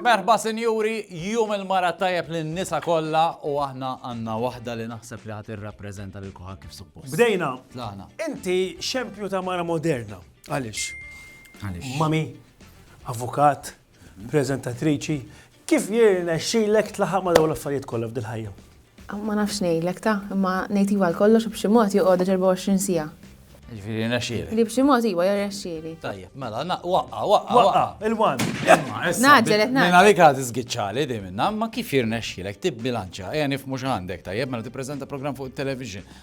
Merħba sinjuri, jum il-mara tajjeb lin nisa kollha u aħna għandna waħda li naħseb li ħadd irrappreżenta lil kuħa kif suppost. Bdejna. Tlaqna. Inti xempju ta' mara moderna. Għaliex? Għaliex? Mami, avukat, prezentatriċi, Kif jirnexxilek tlaħaq ma' dawn l-affarijiet kollha f'dil-ħajja? Ma nafx ngħidlek ta', imma ngħid iva għal kollox u b'xi mod joqgħod għax 24 siegħa. Jiġifieri jirnexxielek. Li b'xi mod iva jirnexxieli. Tajjeb, mela, na, waqqa', waqqa', waqqa'. Waqqa', il-one. Imma issa. Ngħaġġel, qed ngħaġġel. Minn għalik għad iżgiċċali dejjem, imma kif jirnexxielek tibbilanċja? Ejja nifhmu x'għandek, tajjeb, mela tippreżenta programm fuq it-television.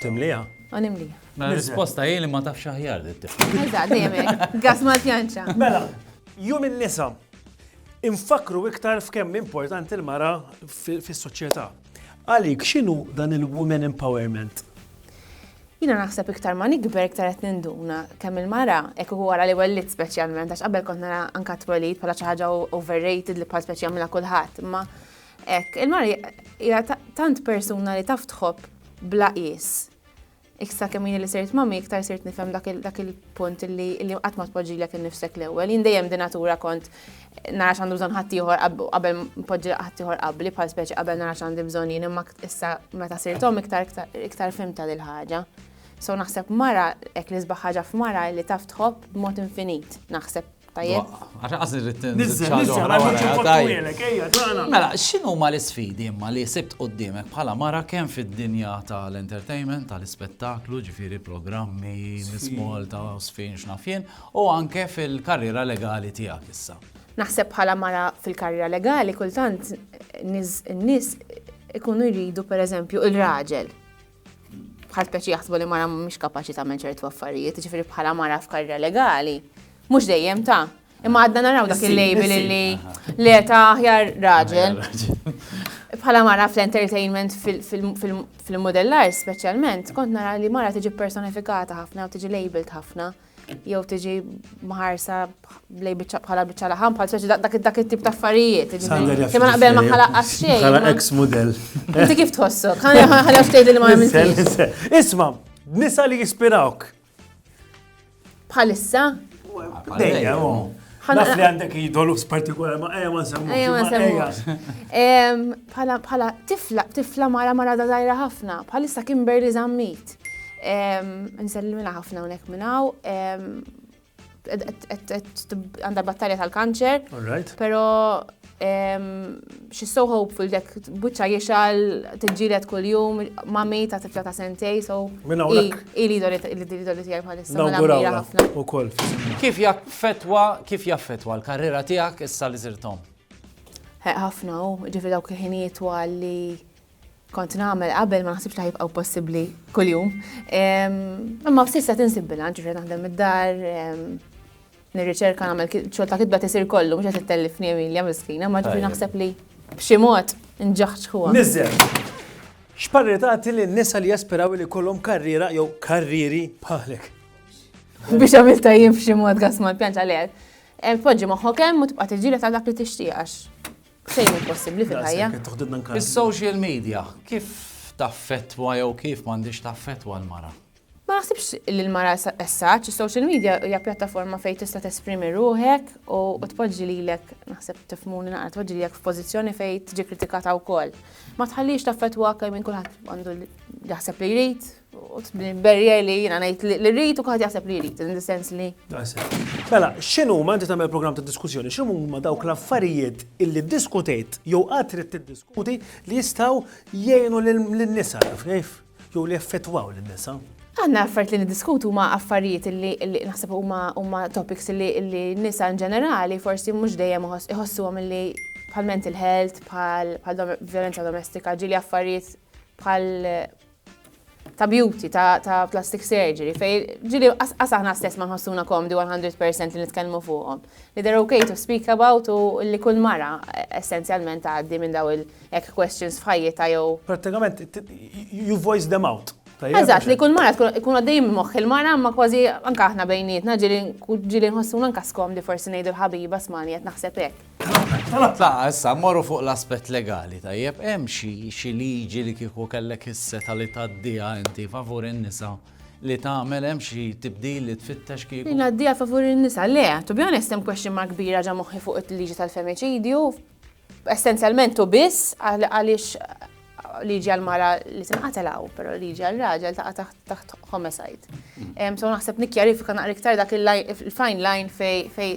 Timliha? U nimliha. Mela risposta hi li ma tafx aħjar li tifhem. Eżatt, dejjem hekk. Gas ma tjanċa. Mela, jum in-nisa. Infakru iktar f'kemm importanti l-mara fis-soċjetà. Għalik x'inhu dan il-women empowerment? Jiena naħseb iktar ma nikber iktar qed ninduna kemm il-mara hekk uħu wara li wellit speċjalment għax qabel kont nara anka twelid bħala xi ħaġa overrated li bħal speċi jagħmilha kulħadd, imma Hekk, il-mara hija tant persuna li taf tħobb bla qies. Iktar kemm jien li sirt mommy, iktar sirt nifhem dak il-punt li qatt ma tpoġġilek innifsek l-ewwel. Jien dejjem b'natura kont nara x'għandu bżonn ħaddieħor qabel npoġġi ħaddieħor qabli, bħal speċi qabel nara x'għandi bżonn jien, imma issa meta sirt omm iktar fhimtha dil-ħaġa. So naħseb mara, hekk l-isbaħ ħaġa f'mara hi li taf tħobb b'mod infinit, naħseb. Tajjeb. Għax irrid Nizzel, nizzel, għamilek, ejja, tagħna. Mela, x'inhu ma l-isfidi imma li sibt qudiemek bħala mara kemm fid-dinja tal-entertainment, tal-ispettaklu, ġifieri programmi, Miss Malta, Sfin x'nafjen, u anke fil-karriera legali tiegħek issa. Naħseb bħala mara fil-karriera legali kultant n-nies ikunu jridu pereżempju il-raġel bħal speċi jaħsbu li mara mhix kapaċi tagħmel ċertu affarijiet, ġifieri bħala mara f'karriera legali, mhux dejjem ta' imma għadna naraw dak il-label li li ta' aħjar raġel. Bħala mara fl-entertainment fil-modellar speċjalment, kont nara li mara tiġi personifikata ħafna u tiġi labeled ħafna. jew tiġi mħarsa lej biċċa bħala biċċa laħam bħal ċaċi dak it-tip ta' affarijiet. Kemm naqbel ma ħala għaxxej. Ħala ex model. Inti kif tħossu? Ħala ftejt li ma għamiltix. Isma, nisa li jispirawk. Bħalissa? Dejja, Naf li għandek jidolus partikolari, ma eja ma semmu. Eja ma semmu. Bħala tifla, tifla mara mara da zaħira ħafna, bħalissa Kimberly zammit. Nsellimilha ħafna hawnhekk minn hawn. Għandha battalja tal-kanċer. Però she's so hopeful dek buċċa jixal tiġġieled kuljum mami ta' tifla ta' sentej so. Minn hawnhekk. Hi l-idoli tiegħi bħalissa. Nawguralha ħafna. Ukoll. Kif jaffettwa, kif jaffettwa l-karriera tiegħek issa li sirt omm? Ħafna hu, ġifieri dawk il-ħinijiet twal li kont nagħmel qabel ma naħsibx li ħajbqgħu possibbli kuljum. Imma f'sissa tinsib bilanċ ġifieri naħdem id-dar, nirriċerka nagħmel xogħol ta' kitba tisir kollu mhux qed ittellifni Emilia miskina, ma ġifieri naħseb li b'xi mod nġaħġħuha. Niżel. X'parri tagħti lin nisa li jaspiraw li kollhom karriera jew karrieri bħalek? Biex għamil tajjim f'xi mod gas mal-pjanċ għalek. Poġġi moħħok hemm u tibqa' tiġġieled għal dak li tixtieqax. fejn hu possibbli fil-ħajja. Is-social media kif taffettwa jew kif m'għandix taffettwa l-mara? Ma naħsibx li l-mara essaċ, is-social media hija pjattaforma fejn tista' tesprimi ruħek u tpoġġi lilek, naħseb tifmuni naqra tpoġġi lilek f'pożizzjoni fejn tiġi kritikata wkoll. Ma tħallix taffettwak minn kulħadd għandu jaħseb li jrid, Berja li jina najt li rrit u kħat jaħseb li rrit, in the sense li. Mela, xinu ma inti tamel program ta' diskussjoni, xinu ma dawk l-affarijiet illi diskutejt jew għatrit t-diskuti li jistaw jgħinu l-nisa, kif? Jew li effettwaw l-nisa. Għanna affarijiet li niddiskutu ma affarijiet li naħseb huma topics li nisa in ġenerali forsi mhux dejjem iħossuhom li bħal mental health, bħal violenza domestika, ġili affarijiet bħal ta' beauty, ta', ta plastic surgery, fej ġili as aħna stess ma nħossuna komdi 100% li nitkellmu fuqhom. Li they're okay to speak about u li kull mara e, essenzjalment għaddi minn daw il-ek questions f'ħajjita jew. Pratikament, you voice them out. Eżatt, li kull mara tkun għaddej minn moħħ il-mara ma kważi anka aħna bejnietna ġili nħossuna anka skomdi forsi ngħidu l-ħabiba smani qed naħseb hekk. Tlaq, issa mmorru fuq l-aspett legali, tajjeb, hemm xi xi liġi li kieku kellek is-setgħa li tgħaddiha inti favur in-nisa li tagħmel hemm xi tibdil li tfittex kieku? Li ngħaddiha favur in-nisa? Le, to be honest hemm question mark kbira ġa moħħi fuq il-liġi tal-femiċidju, essenzjalment u biss għaliex liġi għall-mara li tinqatel hawn, però liġi għar-raġel taqa' taħt taħt homicide. So naħseb nikkjarifika naqra iktar dak il-line il-fine line fej fej